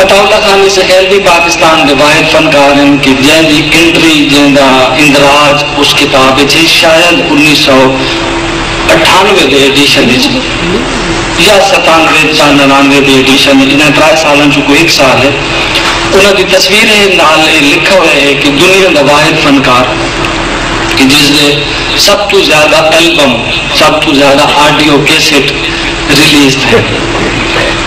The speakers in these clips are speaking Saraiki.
عطاء اللہ خان عیسی خیل وی پاکستان دے واحد فنکار ہن کہ جیں دی انٹری جیں دا اندراج اس کتاب اچ ہے شاید انیس سو اٹھانوے دے ایڈیشن اچ یا ستانوے چا ننانوے دے ایڈیشن اچ انہاں ترائے سالاں چوں کوئی ہک سال ہے انہاں دی تصویر ہے نال اے لکھا ہویا ہے کہ دنیا دا واحد فنکار کہ جس دے سب توں زیادہ البم سب توں زیادہ آڈیو کیسٹ ریلیز تھئے۔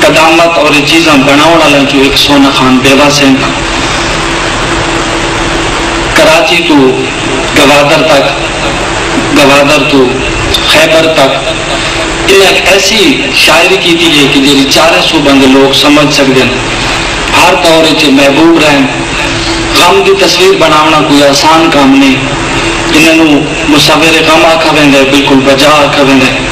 قدامت اور اے چیزاں بنڑاونڑ آلیاں چوں ہک سونہ خان بیوہ سنگھ ہن۔ کراچی توں گوادر تک، گوادر توں خیبر تک انہاں ہک ایسی شاعری کیتی ہے کہ جیہڑی چاریں صوباں دے لوگ سمجھ سگدن۔ ہر دور اچ اے محبوب رہن۔ غم دی تصویر بنڑاونڑاں کوئی آسان کم نئیں۔ انہاں نوں مصور غم آکھا ویندے، بالکل بجا آکھا ویندے۔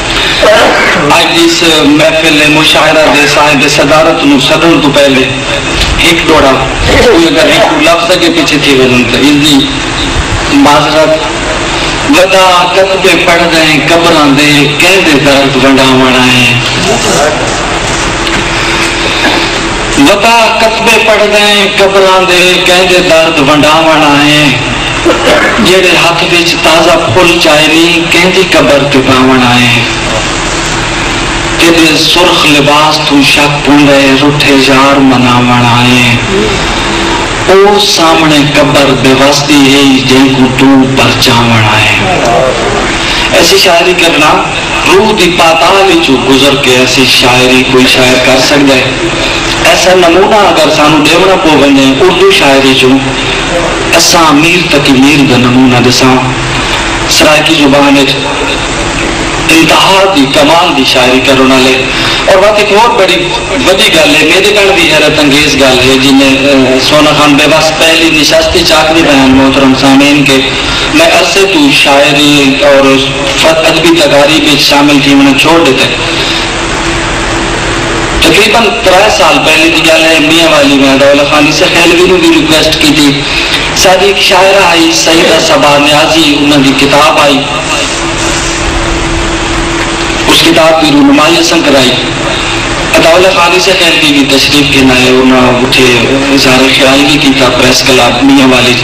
اج دیس محفل مشاعرہ دے صاحب صدارت نوں سڈنڑ توں پہلے ہک ڈوہڑا کوئی اگر ہک ڈو لفظ اگے پیچھے تھی ویندن تاں اس دی معذرت۔ ودا کتبے پڑھدئیں قبراں دے کیندے درد ونڈاونڑ آئیں۔ ودا کتبے پڑھدئیں قبراں دے کیندے درد ونڈاونڑ آئیں۔ جیڑھے ہتھ وچ تازہ پھل چائے نی کیندی قبر تے پاوݨ آئے ہیں تیڈے سرخ لباس توں شک پوندا ہے رٹھے یار مناوݨ آئے ہیں او سامݨے قبر بے وس دی ہئی جینکوں توں پرچاوݨ آئے ہیں ایسی شاعری کرنا روح دی پاتال اچوں گزر کے ایسی شاعری کوئی شاعر کر سکدا ہے ایسا نمونہ اگر سانوں ڈیوݨا پو ونجے اردو شاعری چوں اساں امیر تقی میر دا نمونہ ݙساں۔ سرائیکی زبان اچ انتہا دی کمال دی شاعری کرݨ آلے اور وت ہک ہور بڑی وݙی ڳالھ اے میݙے کن وی حیرت انگیز ڳالھ اے جی میں سونا خان بے وس پہلی نشست اچ آکھدی پیاں محترم سامعین کہ میں عرصے توں شاعری اور ادبی تقاریب اچ شامل تھیوݨا چھوڑ ݙتے تقریبا ترے سال پہلے دی گالھ ہے میاں والی میں اداولا خان عیسی خیلوی نو وی ریکویسٹ کیتی ساڈی ہک شاعرہ آئی سیدہ صبا نیازی انہاں دی کتاب آئی اس کتاب دی رونمائی اساں کرائی اداولا خان عیسی خیلوی وی تشریف گھن آئے انہاں اتھے اظہار خیال وی کیتا پریس کلب میاں والی اچ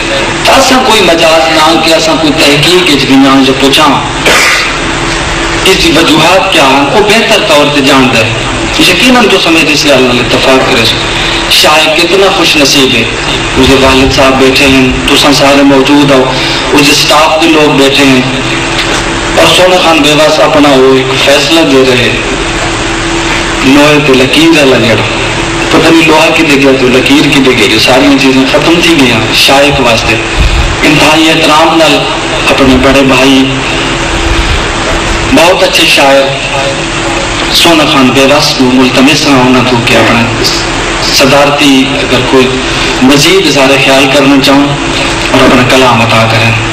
تاں اساں کوئی مجاز نہ کہ اساں کوئی تحقیق وچ ونجاں یا پچھاں اس دی وجوہات کیا ہن او بہتر طور تے جاندا ہے یقینا تساں میڈے اس گالھ نال اتفاق کریسو شاعر کتنا خوش نصیب ہے اس دے والد صاحب بیٹھے ہن تساں سارے موجود ہاؤ اس دے سٹاف دے لوگ بیٹھے ہن اور سونا خان بیوس اپنا او اک فیصلہ دے رہے۔ لوہے تے لکیر آلا جڑ۔ پتہ نی لوہا کدھے گیا تے لکیر کدھے گئی جو ساریاں چیزاں ختم تھی گئیاں۔ شائق واسطے انتہائی احترام نال اپنے بڑے بھائی بہت اچھے شاعر سونا خان بے وس کوں ملتمس ہاں انہاں توں کہ اپنا صدارتی اگر کوئی مزید اظہار خیال کرنا چاہون اور اپنا کلام عطا کرن۔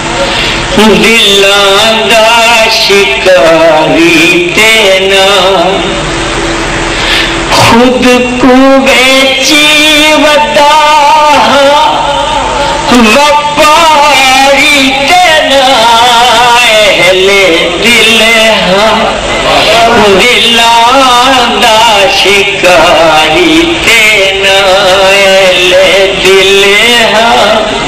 دلاں دا شکاری تے نہ خود کوں ویچی ودا ہاں وپاری تے نہ اہل دل ہاں دلاں دا شکاری تے نہ اہل دل ہاں۔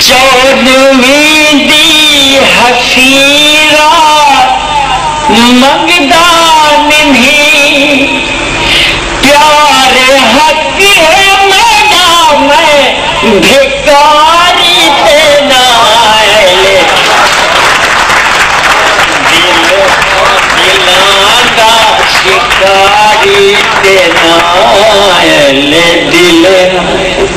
چودھویں دی حفیظہ منگدا نمھی پیار حق ہے میݙا میں بھکاری تے نائل دل دلاں دا شکاری تے نائل دل۔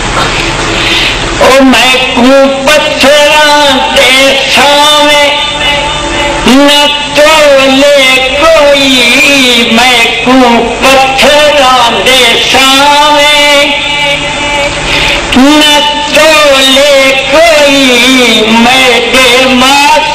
او میکوں پتھراں دے سانویں نہ تولے کوئی میکوں پتھراں دے سانویں نہ تولے کوئی میڈے ماتھے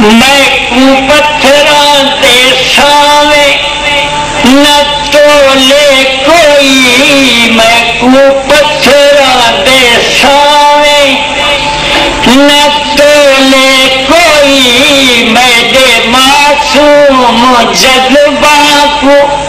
میکوں پتھراں دے سانویں نہ تولے کوئی میکوں پتھراں دے سانویں نہ تولے کوئی میڈے معصوم جذباں کوں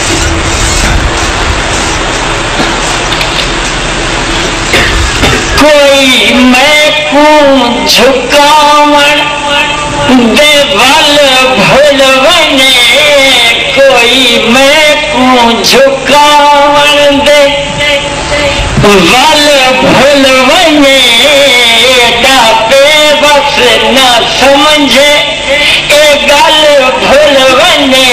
کوئی میکوں جھکاوݨ دے ول بھل ونڄے کوئی میکوں جھکاوݨ دے ول بھل ونڄے دا بے وس نہ سمجھے اے ڳل بھل ونڄے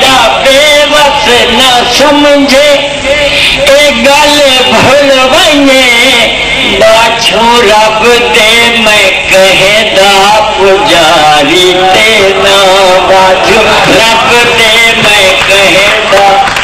دا بے وس نہ سمجھے اے ڳل بھل ونڄے دا چھوں رب دے میں کہیں دا پجاری تے نہ واجھوں رب دے میں کہیں دا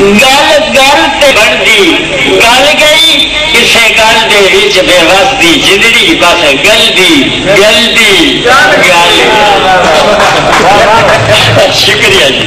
گل گل تے بنڑدی گل گئی کسے گل دے وچ بے وس دی جندڑی بس گلدی گلدی گل گئی شکریہ جی۔